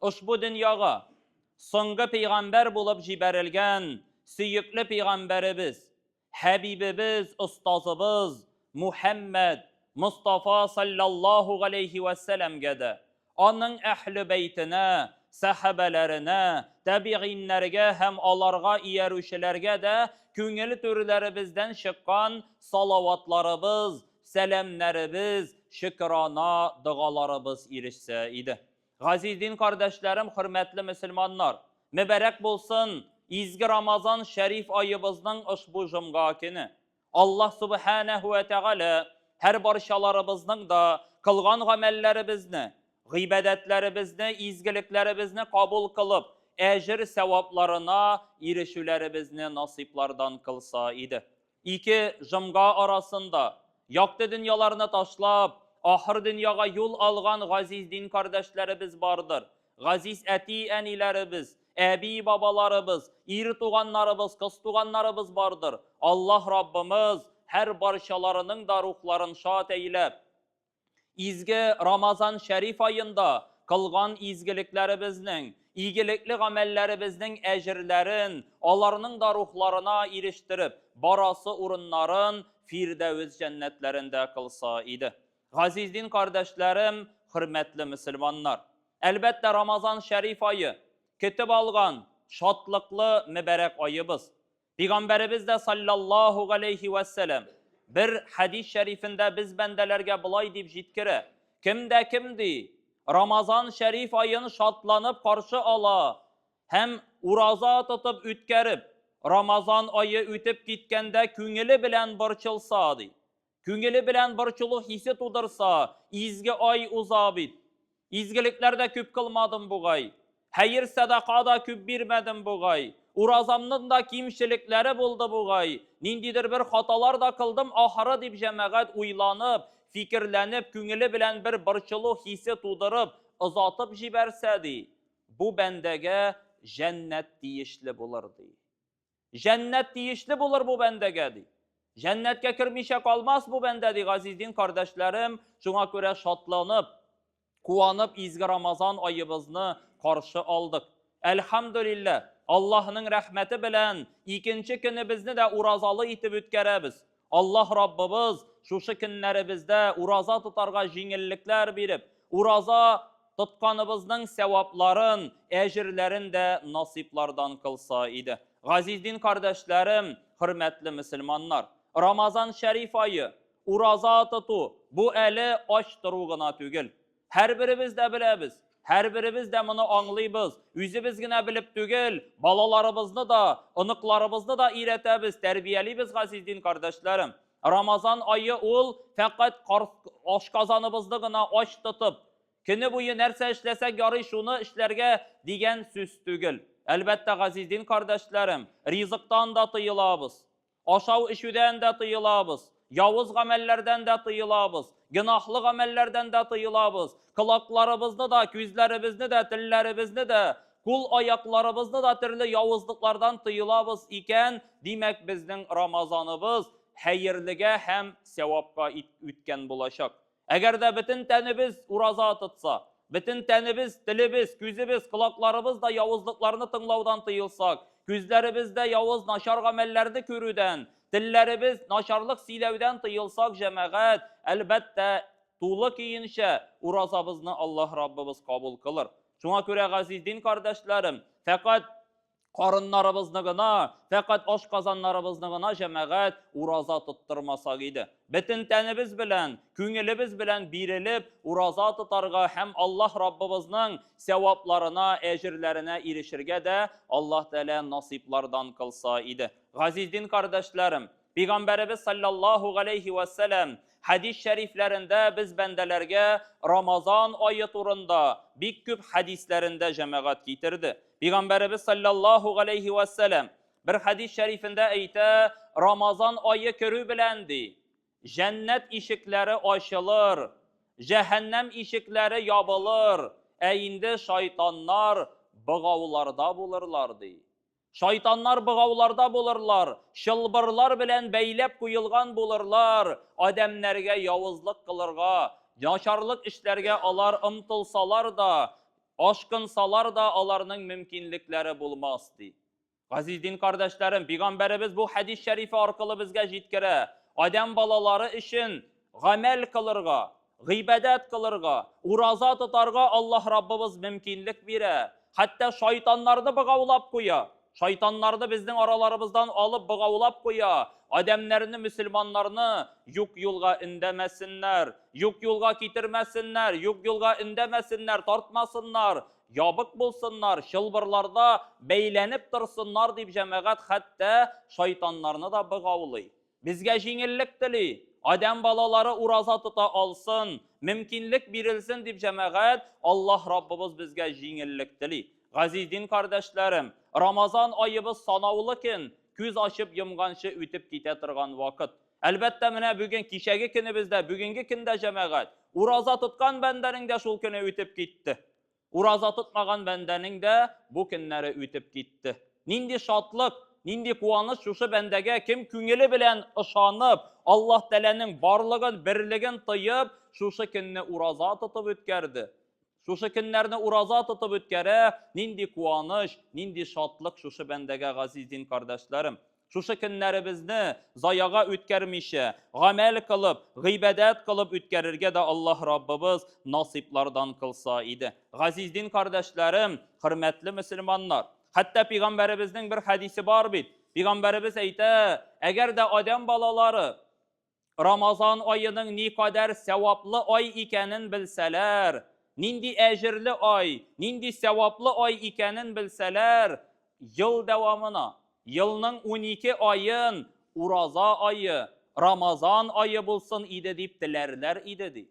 Ошбу дөньяга соңгы пәйгамбәр булып җибәрелгән сөекле пәйгамбәребез, хәбибебез, остазыбыз Мухәммәд Мостафа салләллаһу галәйһи вә сәламгә дә, аның әһле бәйтенә, сәхабәләренә, тәбигыйннәргә һәм аларга иярүчеләргә дә күңел түрләребездән чыккан салаватларыбыз, сәламнәребез, шөкерана догаларыбыз ирешсә иде. Газиз дин кардәшләрем, хөрмәтле мөселманнар! Мөбарәк булсын изге Рамазан шәриф аебызның ошбу җомга көне! Аллаһ Сүбхәнәһү вә Тәгалә һәрбарчаларыбызның да кылган гамәлләребезне, гыйбадәтләребезне, изгелекләребезне кабул кылып, әҗер-сәвапларына ирешүләребезне насыйплардан кылса иде. Ике жомга арасында, якты дөньяларны ташлап, ахыр дөньяга юл алган газиз дин кардәшләребез бардыр. Газиз әти-әниләребез, әби-бабаларыбыз, ир туганнарыбыз, кыз туганнарыбыз бардыр. Аллаһ Раббымыз һәр барчаларының да рухларын шат әйләп. Изге Рамазан шәриф аенда кылган изгелекләребезнең, игелекле гамәлләребезнең әҗерләрен аларның да рухларына ирештереп, барасы урыннарын Фирдәвес җәннәтләрендә кылса иде. Газиз дин кардәшләрем, хөрмәтле мөселманнар! Әлбәттә, Рамазан шәриф ае, көтеп алган, шатлыклы, мөбарәк аебыз. Пигамбәребез дә саллаллаху галейхи ва сәләм бер хәдис шәрифендә без бәндәләргә болай дип җиткерә. Кем дә кем ди, Рамазан шәриф аен шатланып каршы ала һәм ураза тотып үткәреп, Рамазан ае үтеп киткәндә күңеле белән борчылса, ди. Күңеле белән борчылу хисе тудырса, изге ай уза бит. Изгелекләр дә күп кылмадым бугай. Хәер-сәдака да күп бирмәдем бугай. Уразамның да кимчелекләре булды бугай. Ниндидер бер хаталар да кылдым ахыры, дип җәмәгать уйланып, фикерләнеп, күңеле белән бер борчылу хисе тудырып, озатып җибәрсә, ди, бу бәндәгә җәннәт тиешле булыр, ди. Җәннәт тиешле булыр бу бәндәгә, ди. Җәннәткә кермичә калмас бу бәндә, ди, газиз дин кардәшләрем. Шуңа күрә шатланып, куанып изге Рамазан аебызны каршы алдык. Әлхәмдүлилләһ, Аллаһның рәхмәте белән икенче көнебезне дә уразалы итеп үткәрәбез. Аллаһ Раббыбыз шушы көннәребездә ураза тотарга җиңеллекләр биреп, ураза тотканыбызның сәвапларын, әҗерләрен дә насыйплардан кылса иде. Газиз дин кардәшләрем, хөрмәтле мөселманнар! Рамазан шәриф ае, ураза тоту, бу әле ач тору гына түгел. Һәрберебез дә беләбез, һәрберебез дә моны аңлыйбыз. Үзебез генә белеп түгел, балаларыбызны да, оныкларыбызны да өйрәтәбез, тәрбиялибез, газиз дин кардәшләрем. Рамазан айы ул фәкать ашказаныбызны гына ач тотып, көне буе нәрсә эшләсәк ярый, шуны эшләргә дигән сүз түгел. Әлбәттә, газиз дин кардәшләрем, ризыктан да тыелабыз. Ашау-эчүдән дә тыелабыз, явыз гамәлләрдән дә тыелабыз, гөнаһлы гамәлләрдән дә тыелабыз, колакларыбызны да, күзләребезне дә, телләребезне дә, кул-аякларыбызны да төрле явызлыклардан тыелабыз икән, димәк, безнең Рамазаныбыз хәерлегә һәм сәвапка үткән булачак. Әгәр дә бөтен тәнебез ураза тотса, бөтен тәнебез, телебез, күзебез, колакларыбыз да явызлыкларны тыңлаудан тыелсак, күзләребез дә явыз, начар гамәлләрне күрүдән, телләребез начарлык сөйләүдән тыелсак, җәмәгать, әлбәттә, тулы көенчә уразабызны Аллаһ Раббыбыз кабул кылыр. Шуңа күрә, газиз дин кардәшләрем, фәкать Карыннарыбызны гына, фәкать ашказаннарыбызны гына җәмәгать ураза тоттырмасак иде. Бөтен тәнебез белән, күңелебез белән бирелеп, ураза тотарга һәм Аллаһ Раббыбызның сәвапларына, әҗерләренә ирешергә дә Аллаһ Тәгалә насыйплардан кылса иде. Газиз дин кардәшләрем! Пәйгамбәребез саллаллаһу галәйһи ва сәлам хәдис шәрифләрендә без бәндәләргә Рамазан айы турында бик күп хәдисләрендә җәмәгать китерде. Пәйгамбәребез саллаллаһу галәйһи ва сәлам бер хәдис шәрифендә әйтә, Рамазан айы керү белән ди, җәннәт ишекләре ачылыр, җәһәннәм ишекләре ябылыр, ә инде шайтаннар богауларда булырлар ди. Шайтаннар богауларда булырлар, чылбырлар белән бәйләп куелган булырлар, адәмнәргә явызлык кылырга, начарлык эшләргә алар омтылсалар да, ашкынсалар да, аларның мөмкинлекләре булмас, ди. Газиз дин кардәшләрем, Пигамбәребез бу хәдис шәрифе аркылы безгә җиткерә, адәм балалары өчен Гамәл кылырга, гыйбадәт кылырга, ураза тотарга Аллаһ Раббыбыз мөмкинлек бирә. Хәтта шайтаннарны богаулап куя. Шайтаннарны безнең араларыбыздан алып богаулап куя. Адәмнәрне, мөселманнарны юк юлга өндәмәсеннәр, юк юлга китермәсеннәр, юк юлга өндәмәсеннәр, тартмасыннар, ябык булсыннар, чылбырларда бәйләнеп торсыннар дип җәмәгать хәтта шайтаннарны да богаулый. Безгә җиңеллек тели, адәм балалары ураза тота алсын, мөмкинлек бирелсен дип җәмәгать, Аллаһ Раббыбыз безгә җиңеллек тели. Газиз дин кардәшләрем, Рамазан аебыз санаулы көн, күз ачып йомганчы үтеп китә торган вакыт. Әлбәттә, менә бүген кичәге көнебез дә, бүгенге көн дә җәмәгать, ураза тоткан бәндәнең дә шул көне үтеп китте. Ураза тотмаган бәндәнең дә бу көннәре үтеп китте. Нинди шатлык, нинди куаныч шушы бәндәгә, кем күңеле белән ышанып, Аллаһ Тәгаләнең барлыгын, берлеген тоеп, шушы көнне ураза тотып үткәрде, шушы көннәрне ураза тотып үткәрә, нинди куаныч, нинди шатлык шушы бәндәгә, газиз дин кардәшләрем! Шушы көннәребезне заяга үткәрмичә, гамәл кылып, гыйбадәт кылып үткәрергә дә Аллаһ Раббыбыз насыйплардан кылса иде. Газиз дин кардәшләрем, хөрмәтле мөселманнар! Хәтта пигамбәребезнең бер хәдисе бар бит. Пигамбәребез әйтә, әгәр дә адәм балалары Рамазан аеның никадәр сәваплы ай икәнен белсәләр, нинди әҗерле ай, нинди сәваплы ай икәнен белсәләр, ел дәвамына, елның унике аен ураза ае, Рамазан ае булсын иде дип теләрләр иде, ди.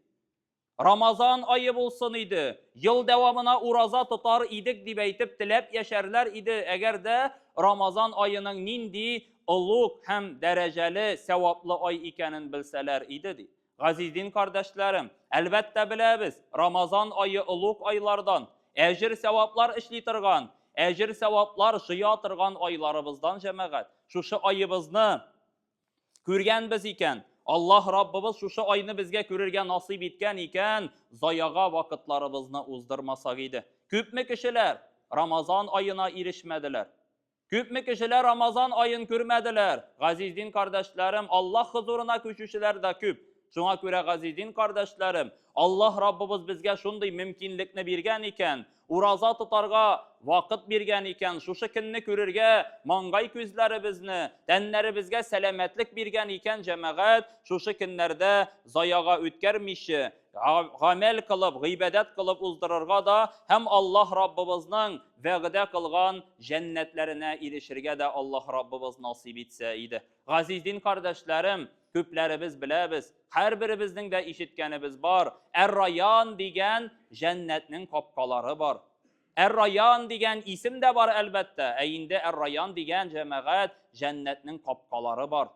Рамазан айы булсын иде, ел дәвамына ураза тотар идек дип әйтеп теләп яшәрләр иде, әгәр дә Рамазан аеның нинди олуг һәм дәрәҗәле, сәваплы ай икәнен белсәләр иде, ди. Газиз дин кардәшләрем, әлбәттә беләбез, Рамазан ае олуг айлардан, әҗер-сәваплар эшли торган, әҗер-сәваплар җыя торган айларыбыздан, җәмәгать. Шушы аебызны Күргәнбез икән, Аллаһ Раббыбыз шушы айны безгә күрергә насыйп иткән икән, заяга вакытларыбызны уздырмасак иде. Күпме кешеләр Рамазан аена ирешмәделәр. Күпме кешеләр Рамазан аен күрмәделәр. Газиздин кардәшләрем, Аллаһ хозурына күчүчеләр дә күп. Шуңа күрә, газиз дин кардәшләрем, Аллаһ Раббыбыз безгә шундый мөмкинлекне биргән икән, ураза тотарга вакыт биргән икән, шушы көнне күрергә маңгай күзләребезне, тәннәребезгә сәламәтлек биргән икән, җәмәгать, шушы көннәрдә заяга үткәрмичә, гамәл кылып, гыйбадәт кылып уздырырга да һәм Аллаһ Раббыбызның вәгъдә кылган җәннәтләренә ирешергә дә Аллаһ Раббыбыз насыйп итсә иде. Газиз дин кардәшләрем, күпләребез беләбез, һәрберебезнең дә ишеткәнебез бар, Әр-Раян дигән җәннәтнең капкалары бар. Әр-Раян дигән исем дә бар, әлбәттә, ә инде Әр-Раян дигән җәмәгать җәннәтнең капкалары бар.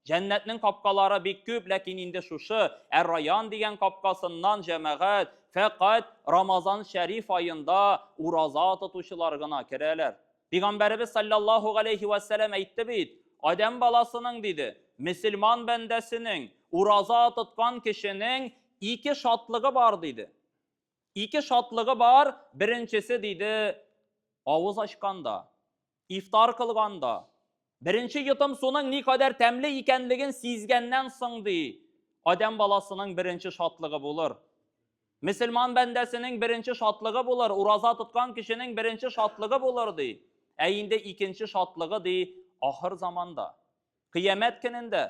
Җәннәтнең капкалары бик күп, ләкин инде шушы Әр-Раян дигән капкасыннан җәмәгать фәкать Рамазан шәриф аенда ураза тотучылар гына керәләр. Пигамбәребез саллаллаһу галәйһи вә сәләм әйтте бит, Адәм баласының, диде, мөселман бәндәсенең, ураза тоткан кешенең ике шатлыгы бар, диде. Ике шатлыгы бар, беренчесе, диде, авыз ачканда, ифтар кылганда, беренче йотым суның ни кадәр тәмле икәнлеген сизгәннән соң, ди, Адәм баласының беренче шатлыгы булыр. Мөселман бәндәсенең беренче шатлыгы булыр, ураза тоткан кешенең беренче шатлыгы булыр, ди. Ә инде икенче шатлыгы, ди, ахыр заманда. Кыямәт көнендә.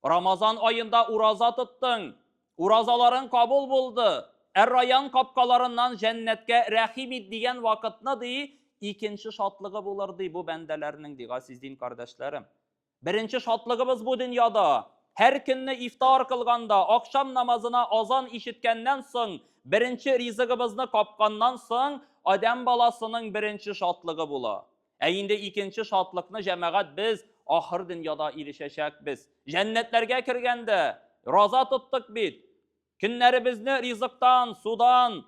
Рамазан аенда ураза тоттың, уразаларың кабул булды, Әр-Раян капкаларыннан җәннәткә рәхим ит дигән вакытны, ди, икенче шатлыгы булыр, ди, бу бәндәләрнең, ди, газиз дин кардәшләрем. Беренче шатлыгыбыз бу дөньяда. Һәр көнне ифтар кылганда, ахшам намазына азан ишеткәннән соң, беренче ризыгыбызны капканнан соң, адәм баласының беренче шатлыгы була. Ә инде икенче шатлыкны, җәмәгать, без ахыр дөньяда ирешәчәкбез. Җәннәтләргә кергәндә, Роза тоттык бит, Көннәребезне ризыктан, судан,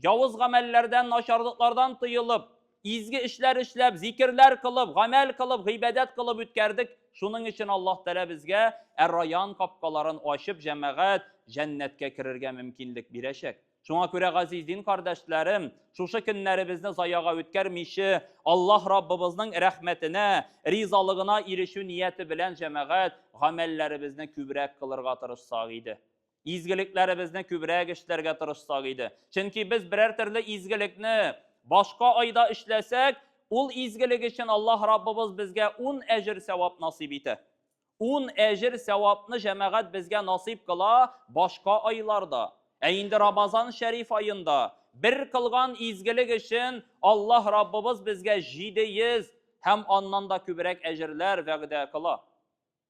явыз гамәлләрдән, начарлыклардан тыелып, изге эшләр эшләп, зикерләр кылып, гамәл кылып, гыйбадәт кылып үткәрдек. Шуның өчен Аллаһ Тәгалә безгә Әр-Райян капкаларын ачып, җәмәгать, җәннәткә керергә мөмкинлек бирәчәк. Шуңа күрә, газиз дин кардәшләрем, шушы көннәребезне заяга үткәрмиче, Аллаһ Раббыбызның рәхмәтенә, ризалыгына ирешү нияте белән, җәмәгать, гамәлләребезне күбрәк кылырга тырышсак иде. Изгелекләребезне күбрәк эшләргә тырышсак иде. Чөнки без берәр төрле изгелекне башка айда эшләсәк, ул изгелек өчен Аллаһ Раббыбыз безгә 10 әҗер сәвап насыйп итә. 10 әҗер сәвапны җәмәгать безгә насыйп кыла башка айларда. Ә инде Рамазан шәриф аенда бер кылган изгелек өчен Аллаһ Раббыбыз безгә 700 һәм аннан да күбрәк әҗерләр вәгъдә кыла.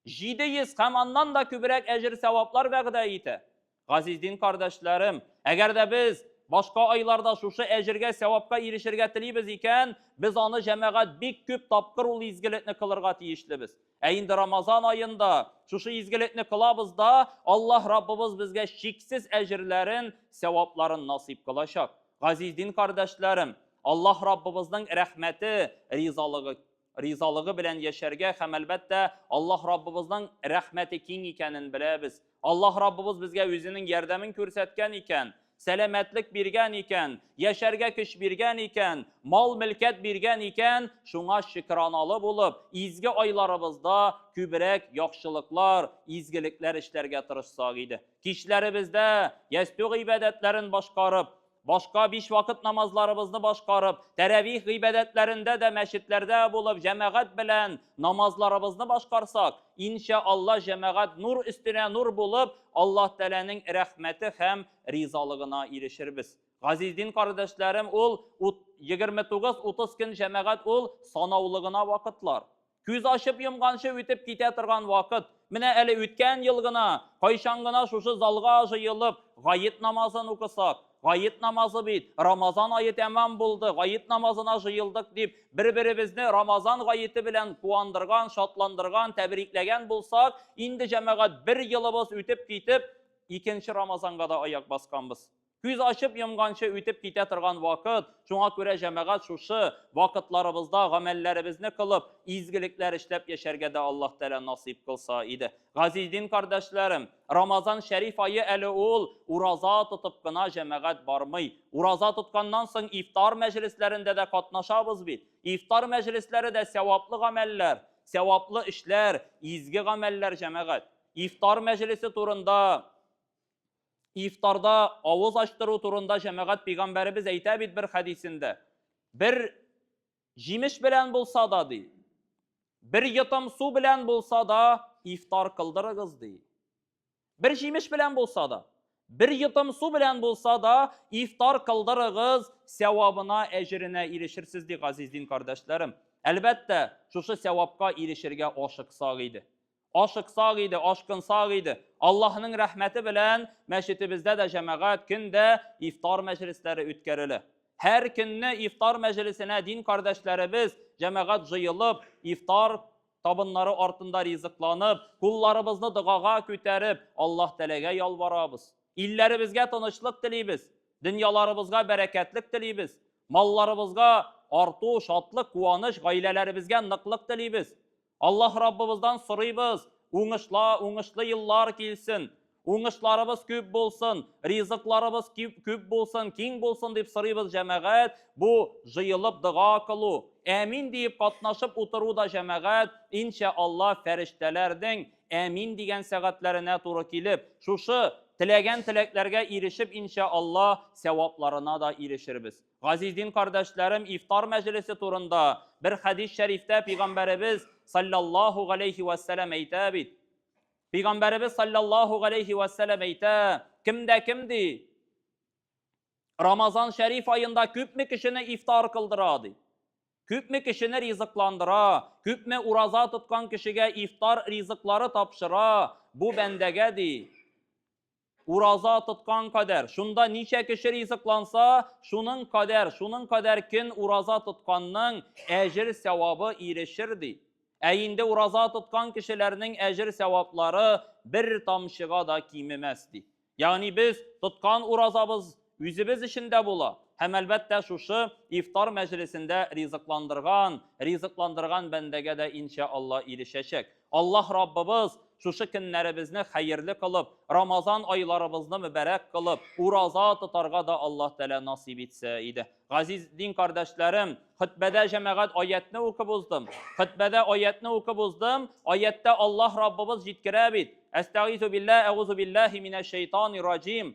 700 һәм аннан да күбрәк әҗер-сәваплар вәгъдә итә. Газиз дин кардәшләрем, әгәр дә без башка айларда шушы әҗергә, сәвапка ирешергә телибез икән, без аны җәмәгать бик күп тапкыр ул изгелекне кылырга тиешлебез. Ә инде Рамазан аенда шушы изгелекне кылабыз да, Аллаһ Раббыбыз безгә чиксез әҗерләрен, сәвапларын насыйп кылачак. Газиз дин кардәшләрем, Аллаһ Раббыбызның рәхмәте, ризалыгы ризалыгы белән яшәргә һәм әлбәттә Аллаһ Раббыбызның рәхмәте киң икәнен беләбез. Аллаһ Раббыбыз безгә үзенең ярдәмен күрсәткән икән, сәламәтлек биргән икән, яшәргә көч биргән икән, мал-мөлкәт биргән икән, шуңа шөкраналы булып, изге айларыбызда күбрәк яхшылыклар, изгелекләр эшләргә тырышсак иде. Кичләребездә ястү гыйбадәтләрен башкарып, Башка биш вакыт намазларыбызны башкарып, тәрәвих гыйбадәтләрендә дә мәчетләрдә булып, җәмәгать белән намазларыбызны башкарсак, иншә Аллаһ, җәмәгать нур өстенә нур булып, Аллаһ Тәгаләнең рәхмәте һәм ризалыгына ирешербез. Газиз дин кардәшләрем, ул ут, егерме тугыз, утыз көн җәмәгать ул, санаулы гына вакытлар. Күз ачып йомганчы үтеп китә торган вакыт. Менә әле үткән ел гына, кайчан гына шушы залга җыелып, гает намазын укысак, гает намазы бит, Рамазан ае тәмам булды, гает намазына җыелдык дип, бер-беребезне Рамазан гаете белән куандырган, шатландырган, тәбрикләгән булсак, инде җәмәгать бер елыбыз үтеп китеп, икенче Рамазанга да аяк басканбыз. Күз ачып йомганчы үтеп китә торган вакыт, шуңа күрә җәмәгать шушы вакытларыбызда гамәлләребезне кылып, изгелекләр эшләп яшәргә дә Аллаһ Тәгалә насыйп кылса иде. Газиз дин кардәшләрем, Рамазан шәриф ае әле ул, ураза тотып кына җәмәгать бармый. Ураза тотканнан соң ифтар мәҗлесләрендә дә катнашабыз бит. Ифтар мәҗлесләре дә сәваплы гамәлләр, сәваплы эшләр, изге гамәлләр җәмәгать. Ифтар мәҗлесе турында Ифтарда авыз ачтыру турында җәмәгать пигамбәребез әйтә бит бер хәдисендә. Бер җимеш белән булса да ди. Бер йотым су белән булса да ифтар кылдырыгыз ди. Бер җимеш белән булса да, бер йотым су белән булса да ифтар кылдырыгыз, сәвабына, әҗеренә ирешерсез ди, газиз дин кардәшләрем. Әлбәттә, шушы сәвапка ирешергә ашыксак иде. ашыксак иде, ашкынсак иде. Аллаһның рәхмәте белән мәчетебездә дә җәмәгать көндә ифтар мәҗлесләре үткәрелә. Һәр көнне ифтар мәҗлесенә дин кардәшләребез җәмәгать җыелып, ифтар табыннары артында ризыкланып, кулларыбызны догага күтәреп, Аллаһ Тәләгә ялварабыз. Илләребезгә тынычлык телибез, дөньяларыбызга бәрәкәтлек телибез, малларыбызга арту, шатлык, куаныч, гаиләләребезгә ныклык телибез. Аллаһ Раббыбыздан сорыйбыз, уңышла, уңышлы еллар килсен, уңышларыбыз күп булсын, ризыкларыбыз кип, күп булсын, киң булсын дип сорыйбыз, җәмәгать. Бу җыелып дога кылу, әмин диеп катнашып утыру да җәмәгать, иншә Алла, фәрештәләрнең әмин дигән сәгатьләренә туры килеп, шушы теләгән теләкләргә ирешеп, иншә Алла, сәвапларына да ирешербез. Газиз дин кардәшләрем, ифтар мәҗлесе турында бер хәдис шәрифтә пәйгамбәребез саллаллаһу галәйһи ва сәлам әйтә бит. Пәйгамбәребез саллаллаһу галәйһи ва сәлам әйтә, кем дә кем ди? Рамазан шәриф аенда күпме кешене ифтар кылдыра ди? Күпме кешене ризыкландыра, күпме ураза тоткан кешегә ифтар ризыклары тапшыра, бу бәндәгә ди. Ураза тоткан кадәр, шунда ничә кеше ризыкланса, шуның кадәр, шуның кадәр көн ураза тотканның әҗер сәвабы ирешер ди. Ә инде ураза тоткан кешеләрнең әҗер сәваплары бер тамчыга да кимемәс ди. Ягъни без тоткан уразабыз үзебез өчен дә була. Һәм әлбәттә шушы ифтар мәҗлесендә ризыкландырган, ризыкландырган бәндәгә дә инша Алла ирешәчәк. Аллаһ Раббыбыз шушы көннәребезне хәерле кылып, Рамазан айларыбызны мөбарәк кылып, ураза тотарга да Аллаһ Тәгалә насыйп итсә иде. Газиз дин кардәшләрем, хөтбәдә җәмәгать аятны укып уздым. Хөтбәдә аятны укып уздым. Аяттә Аллаһ Раббыбыз җиткерә бит. Әстәгизу билла, әгузу биллахи минәш шәйтанир раҗим.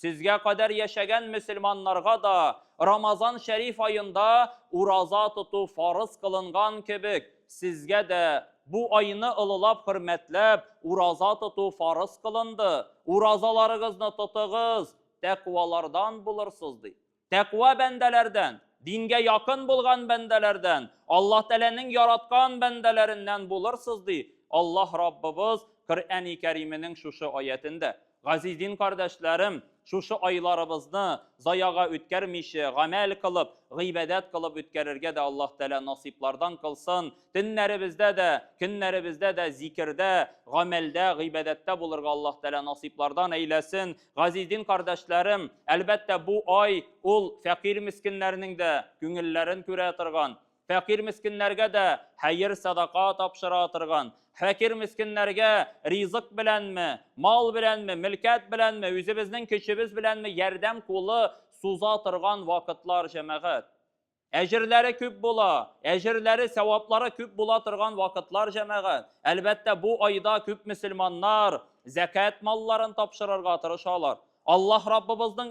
Сезгә кадәр яшәгән мөселманнарга да Рамазан шәриф аенда ураза тоту фарыз кылынган кебек, сезгә дә бу айны олылап-хөрмәтләп ураза тоту фарыз кылынды, уразаларыгызны тотыгыз, тәкъвалардан булырсыз, ди. Тәкъва бәндәләрдән, дингә якын булган бәндәләрдән, Аллаһ Тәгаләнең яраткан бәндәләреннән булырсыз, ди Аллаһ Раббыбыз Коръәни Кәрименең шушы аятендә. Газиз дин кардәшләрем, шушы айларыбызны заяга үткәрмичә, гамәл кылып, гыйбадәт кылып үткәрергә дә Аллаһ Тәгалә насыйплардан кылсын, төннәребездә дә, көннәребездә дә зикердә, гамәлдә, гыйбадәттә булырга Аллаһ Тәгалә насыйплардан әйләсен. Газиз дин кардәшләрем, әлбәттә, бу ай ул фәкыйрь-мескеннәрнең дә күңелләрен күрә торган, фәкыйрь-мескеннәргә дә хәер-садака тапшыра торган, фәкыйрь-мескеннәргә ризык беләнме, мал беләнме, мөлкәт беләнме, үзебезнең көчебез беләнме ярдәм кулы суза торган вакытлар, җәмәгать. Әҗерләре күп була, әҗерләре, сәваплары күп була торган вакытлар, җәмәгать. Әлбәттә, бу айда күп мөселманнар зәкят малларын тапшырырга тырышалар. Аллаһ Раббыбызның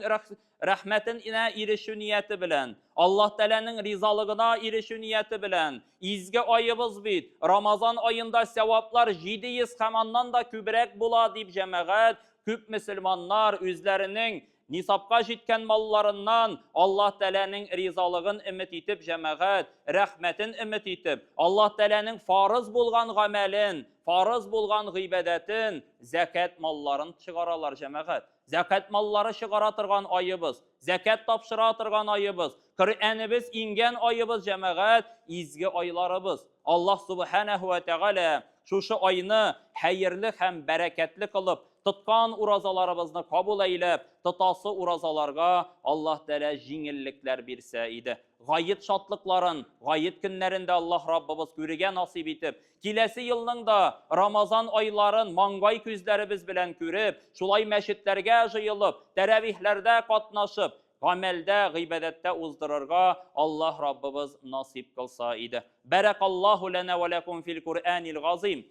рәхмәтенә ирешү нияте белән, Аллаһ Тәгаләнең ризалыгына ирешү нияте белән, изге аебыз бит, Рамазан аенда сәваплар 700 һәм аннан да күбрәк була, дип, җәмәгать, күп мөселманнар үзләренең Нисапка җиткән малларыннан Аллаһ Тәгаләнең ризалыгын өмет итеп җәмәгать, рәхмәтен өмет итеп, Аллаһ Тәгаләнең фарыз булган гамәлен, фарыз булган гыйбадәтен, зәкят малларын чыгаралар, җәмәгать. Зәкят маллары чыгара торган аебыз, зәкят тапшыра торган аебыз, Коръәнебез иңгән аебыз, җәмәгать, изге айларыбыз. Аллаһ Субханәһү вә Тәгалә шушы айны хәерле һәм бәрәкәтле кылып, Тоткан уразаларыбызны кабул әйләп, тотасы уразаларга Аллаһ Тәгалә җиңеллекләр бирсә иде. Гает шатлыкларын, гает көннәрен дә Аллаһ Раббыбыз күрергә насыйп итеп, киләсе елның да Рамазан айларын маңгай күзләребез белән күреп, шулай мәчетләргә җыелып, тәравихләрдә катнашып, гамәлдә, гыйбадәттә уздырырга Аллаһ Раббыбыз насыйп кылса иде. Бәрәкаллаһу ләнә вә ләкум фил Куръәнил газыйм.